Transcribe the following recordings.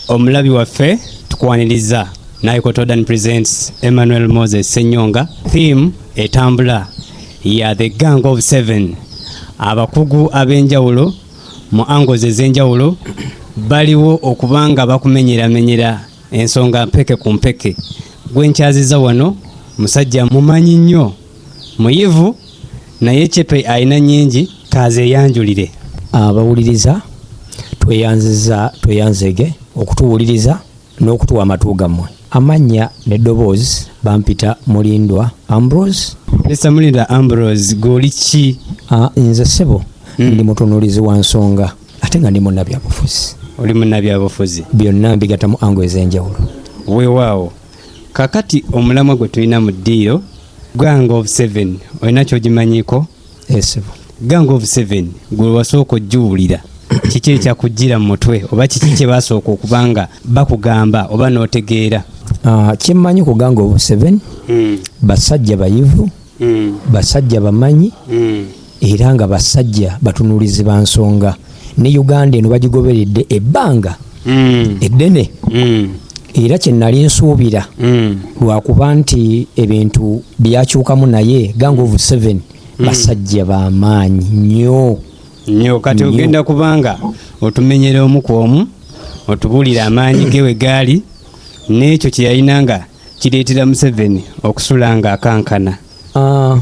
Omulabi waffe tukwaniriza Naikotodan presents Emmanuel Moses Senyonga. Theme etambula ya The Gang of Seven. Abakugu ab'enjawulo mu angles ez'enjawulo baliwo okuba nga bakumenyeramenyera ensonga mpeke ku mpeke. Gwe nkyaziza wano musajja mumanyi nnyo muyivu naye cepe alina nyingi kazeyanjulire abawuliriza tweyanziza tweyanzege okutuwuliriza n'okutuwa amatu gammwe amannya n'eddoboozi bampita mulindwa ambrose mr mulindwa ambrose goli ki ah, nze sebo mm. ndi mutunulizi wa nsonga ate nga ndi munnabyabufuzi oli munnabyabufuzi byonna mbigatamu ango ez'enjawulo weewaawo kakati omulamwa gwe tulina mu ddiiro gang of seven olina kyogimanyiko esebo gang of seven gwe wasooka ogiwulira kiki ekyakujjira mu mutwe oba kiki kye basooka okuba nga bakugamba oba n'otegeera ah, kyemmanyi ku gang of seven hmm. basajja bayivu mm. basajja bamanyi mm. era nga basajja batunuulizi ba nsonga ne uganda eno bagigoberedde ebbanga mm. eddene mm. era kyenali nsuubira mm. lwakuba nti ebintu byakyukamu naye gang of seven mm. basajja bamaanyi nyo nyo kati ogenda kubanga otumenyera omu ku omu otubulire amaanyi ge we gaali n'ekyo kye yalina nga kireetera museveni okusula nga akankana Ah,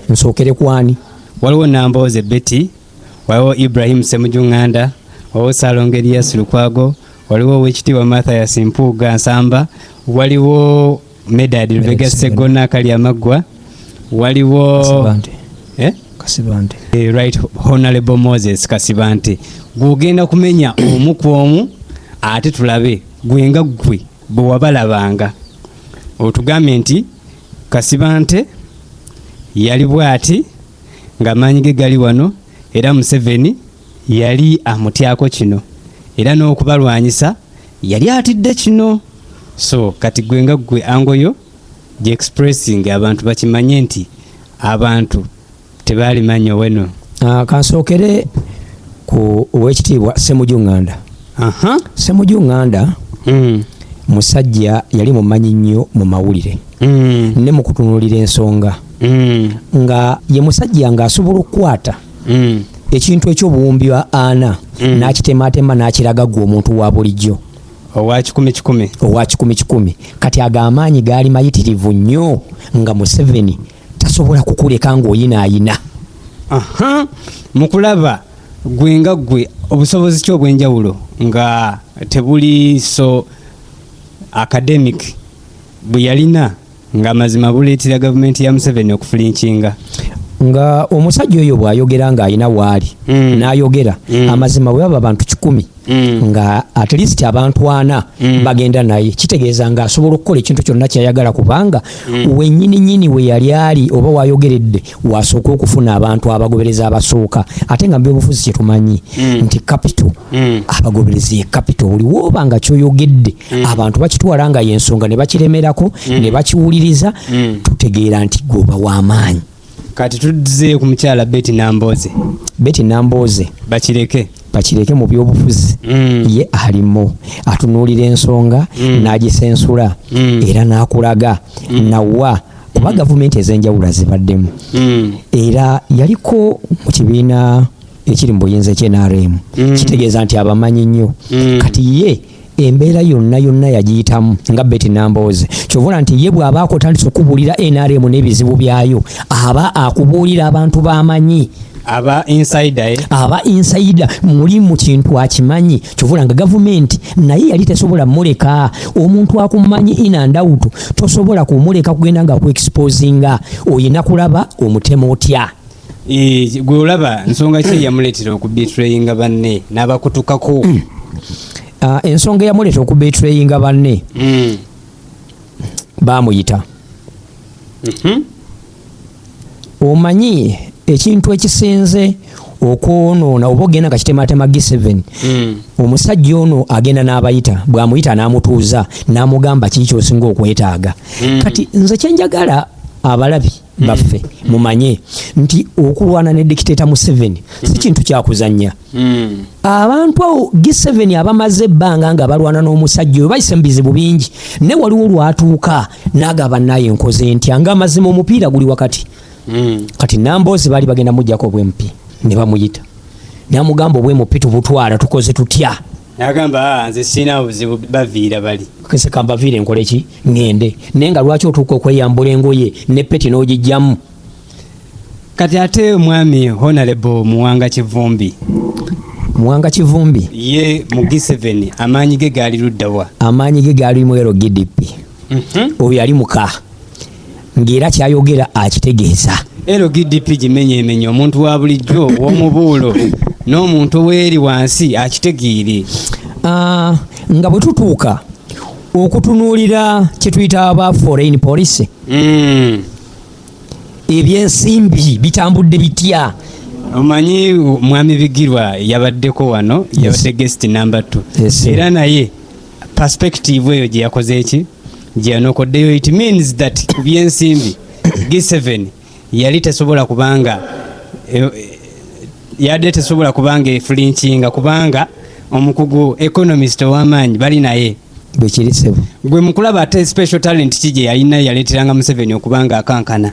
nsookere kwani waliwo nambooze betty waliwo ibrahim semujunganda waliwo salongo elias lukwago waliwo owekitiibwa mathias mpuuga nsamba waliwo medad lubega segona kali amaggwa waliwo Kasibante. Eh? kasibante Eh, right honorable moses kasibante gwogenda kumenya omu ku omu ate tulabe gwe nga gwe bwe wabalabanga otugambye nti kasibante yali bwati ng'amaanyi ge gali wano era museveni yali amutyako kino era n'okubalwanyisa yali atidde kino so kati gwe nga gwe angoyo gyexpressinga abantu bakimanye nti abantu tebaali manyo weno ah, kansookere ku owekitiibwa semuju nganda semuju nganda hmm. musajja yali mumanyi nnyo mu mawulire hmm. ne mu kutunulira ensonga hmm. nga ye musajja ng'asobola okukwata ekintu ekyobuwumbi wa ana mm. nakitematema nakiraga gwe omuntu wa bulijjo owa kikumi kikumi owa kikumi kikumi kati ago amaanyi gaali mayitirivu nnyo nga museveni tasobola kukuleka ng'oyinaayina aha mukulaba gwe nga gwe obusobozi ki obw'enjawulo nga tebuli so academic bwe yalina ng'amazima buleetera gavumenti ya museveni okufulinkinga nga omusajja oyo bw'ayogera ng'alina waali mm. n'ayogera mm. amazima bwe baba bantu kikumi Mm. nga at least abantu ana mm. bagenda naye kitegeeza nga asobola okukola ekintu kyonna kyayagala kubanga mm. wenyini nyini we yali ali oba wayogeredde wasooka okufuna abantu abagobereza abasooka ate nga mubyobufuzi kyetumanyi mm. nti kapito mm. abagobereza ye kapito buli woba nga kyoyogedde mm. abantu bakitwala nga yensonga ne bakiremerako mm. ne bakiwuliriza mm. tutegeera nti gwoba w'amaanyi kati tudze ku mukyala beti namboze beti namboze bakireke bakireke mu byobufuzi mm. ye alimu atunuulira ensonga mm. n'agisensula mm. era n'akulaga mm. nawa kuba mm. gavumenti ez'enjawulo azibaddemu mm. era yaliko mu kibiina ekiri mu buyinza ekyenaremu mm. kitegeeza nti abamanyi nnyo mm. kati ye embeera yonna yonna yagiyitamu nga beti nambooze kyovula nti ye bw'aba akotandisa okubuulira nrm n'ebizibu byayo aba akubuulira abantu bamanyi aba insider eh? aba insider muli mu kintu akimanyi kyovula nga gavumenti naye yali tesobola muleka omuntu akumanyi ina ndawutu tosobola kumuleka kugenda nga ku exposinga oyina kulaba omutema otya Eh, gwe olaba nsonga ki eyamuleetera okubetrayinga banne n'abakutukako hmm. ah, ensonga eyamuleetera okubetrayinga banne hmm. baamuyita mhm. omanyi ekintu ekisinze okwonoona oba ogenda nga kitematema g7 hmm. omusajja ono agenda n'abayita bw'amuyita n'amutuuza n'amugamba kiki kyosinga okwetaaga kati nze kyenjagala abalabi baffe mumanye nti okulwana ne dikiteta museveni si kintu kyakuzanya hmm. abantu awo giseveni abamaze ebbanga nga balwana n'omusajja oyo bayise mu bizibu bingi ne waliwo lwatuuka nagaba naye nkoze ntya nga amazima omupiira guli wakati hmm. kati namboozi baali bagenda mujjako obwempi ne bamuyita namugamba obwemupi tubutwala tukoze tutya nagamba ah, nze sirina buzibu baviira bali kese kambaviire nkole ki ŋŋende naye nga lwaki otuuka okweyambula engoye ne peti n'ogijjamu kati ate omwami honalebo muwanga kivumbi muwanga kivumbi ye mu giseveni amaanyi ge gaali luddawa amaanyi ge gaali mwero gdp mhm. oyo yali muka ng'era kyayogera akitegeeza lgdp gimenyemenye omuntu wa bulijjo ow'omubuulo n'omuntu ow'eri wansi akitegeere ah, nga bwe tutuuka okutunuulira kye tuyita aba foreign policy hmm. ebyensimbi bitambudde bitya omanyi mwami bigirwa yabaddeko wano yabadde guest number t era naye perspective eyo gye yakoze eki gye yanokoddeyo it means that ku byensimbi g7 yali tesobola kubanga e, e, yadde tesobola kubanga efulinkinga kubanga omukugu economist ow'amaanyi bali naye bwekiri sebo gwe mukulaba ate special talent ki gye yalina yaleeteranga museveni okubanga akankana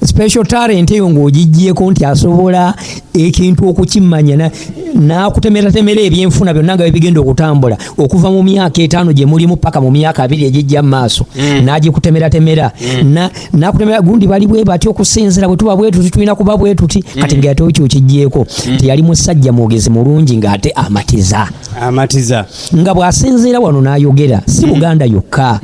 special talent eyo ng'ogiggyeko nti asobola ekintu okukimanya n'akutemeratemera ebyenfuna byonna nga bibigenda okutambula okuva mu myaka etaano gye mulimu paka mu myaka abiri egijja mu maaso mm. n'agikutemeratemera mm. n'akutemera gundi bali bwe bati okusinzira bwe tuba bwetuti tulina kuba bwetuti mm. kati nga ate okyo okiggyeko nti yali musajja mwogezi mulungi ng'ate amatiza amatiza nga bw'asinziira wano n'ayogera si buganda yokka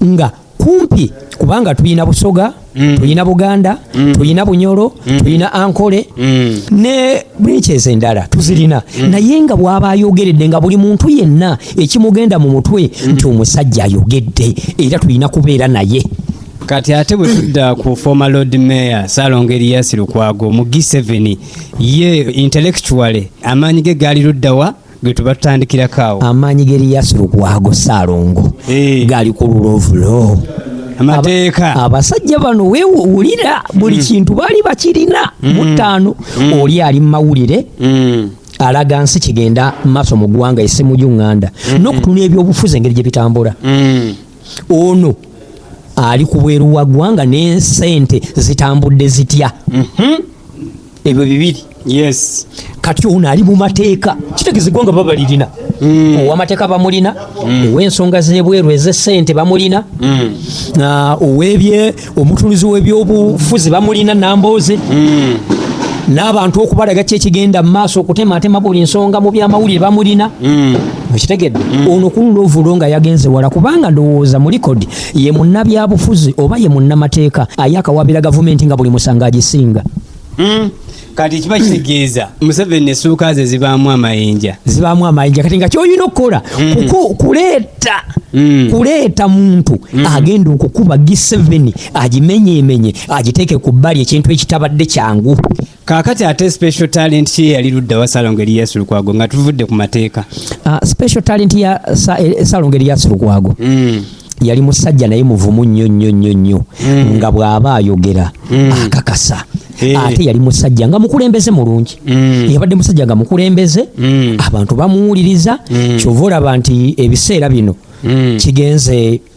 nga kumpi kubanga tulina busoga mm. tulina buganda mm. tulina bunyolo mm. tulina ankole mm. ne brinches endala tuzirina mm. naye nga bwaba ayogeredde nga buli muntu yenna ekimugenda mu mutwe mm. nti omusajja ayogedde era tulina kubeera naye kati ate bwe tudda ku former lord mayor salonga eriyasi lukwago mu g7 ye intellectually amaanyi ge gaali luddawa gwetubatandikirako awo amaanyi g'eriyasu lukwago saalongo eh. gali ku lulovulo amateeka abasajja bano wewulira buli mm. kintu baali bakirina mm. mutaano mm. oli ali mu mawulire alaga nsi kigenda maaso mu ggwanga esimu gyunganda mm-hmm. n'okutuna ebyobufuzi engeri gye bitambula ono ali ku bweru wa ggwanga n'ensente zitambudde zitya mm-hmm. ebyo bibiri yes kati ono ali mu mateeka kitegeza eggwanga baba lirina mm. owamateeka bamulina mm. owensonga zebweru ezesente bamulina mm. ah, owebye omutunuzi webyobufuzi bamulina nambooze n'abantu okubalaga ki ekigenda mu maaso okutematema buli nsonga mu byamawulire bamulina mm. okitegedde mm. ono kulula ovulo nga yagenze wala kubanga ndowooza mu likodi ye munnabyabufuzi oba ye munnamateeka aye akawabira gavumenti nga buli musango agisinga hmm? kati kiba kitegeeza museveni esuuka ze zibaamu amayinja zibaamu amayinja kati nga kyolina okukola hmm. kuleeta hmm. kuleeta muntu agenda okukuba giseveni agimenyeemenye agiteeke ku bbali ekintu ekitabadde kyangu Kakati ate special talent ki yali ludda wa Salongo Elias Lukwago nga tuvudde ku mateeka. Uh, special talent ya sa, eh, Salongo Elias Lukwago. Mm. Yali musajja naye muvumu nnyo nnyo nnyo nnyo mm. nga bw'aba ayogera mm. akakasa. Hey. Eh. Ate yali musajja nga mukulembeze mulungi. Mm. Yabadde musajja nga mukulembeze mm. abantu bamuwuliriza mm. kyova olaba nti ebiseera bino mm. kigenze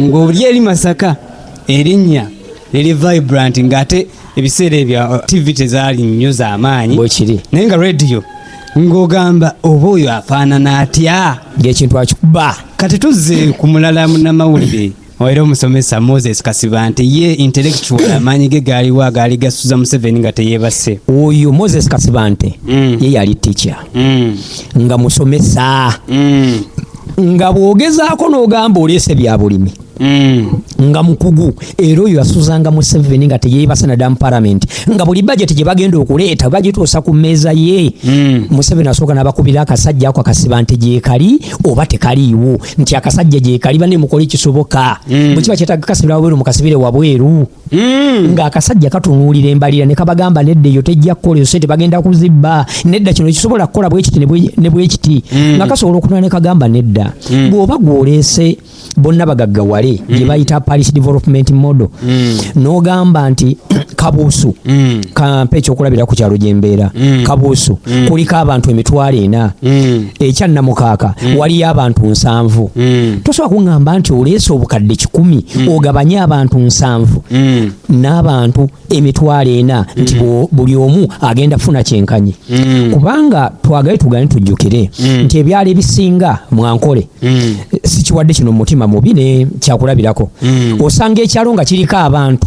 ng'oli eri masaka erinnya liri vibrant ng'ate ebiseera ebyo uh, tv tezaali nnyo z'amaanyi bwekiri naye nga rediyo ng'ogamba oba oyo afaanana atya ng'ekintu akikuba kati tuzze ku mulala munamawulire era omusomesa moses kasiba nti ye intellectual amaanyi ge gaaliwo agaali gasuza museveni nga teyeebase oyo moses kasiba nti mm. ye yali ticha mm. nga musomesa mm. nga bwogezaako n'ogamba oleese bya bulimi mm. nga mukugu era oyo yasuzanga museveni nga teyeebasa nadamu palamenti nga buli bajeti gye bagenda okuleeta bagituusa ku mmeeza ye mm. museveni asooka n'abakubira akasajja ako akasiba nti gyekali oba tekaliiwo nti akasajja gyekali bane mukole ekisoboka mm. bwe kiba kyetaaga kasibira wabweru mukasibire wabweru Mm. nga akasajja katunuulira embalira ne kabagamba nedda eyo tejja kukola eyo sente bagenda kuzibba nedda kino ekisobola kukola bwekiti ne bwekiti mm. nga kasobola okunula ne kagamba nedda mm. bw'oba gw'oleese bonna bagaggawale gye mm. bayita paris development model mm. n'ogamba nti kabuusu mm. kampa ekyokulabira ku kyalo gy'embeera mm. kabuusu mm. kuliko abantu emitwalo ena mm. ekya namukaaka mm. waliyo abantu nsanvu mm. tosobola kuŋŋamba nti oleese obukadde kikumi mm. ogabanye abantu nsanvu mm. n'abantu emitwalo ena mm. nti buli omu agenda kufuna kyenkanyi mm. kubanga twagale tugane tujjukire mm. nti ebyalo ebisinga mwankole mm. sikiwadde kino mumutima mubi ne kyakulabirako mm. osanga ekyalo nga kiriko abantu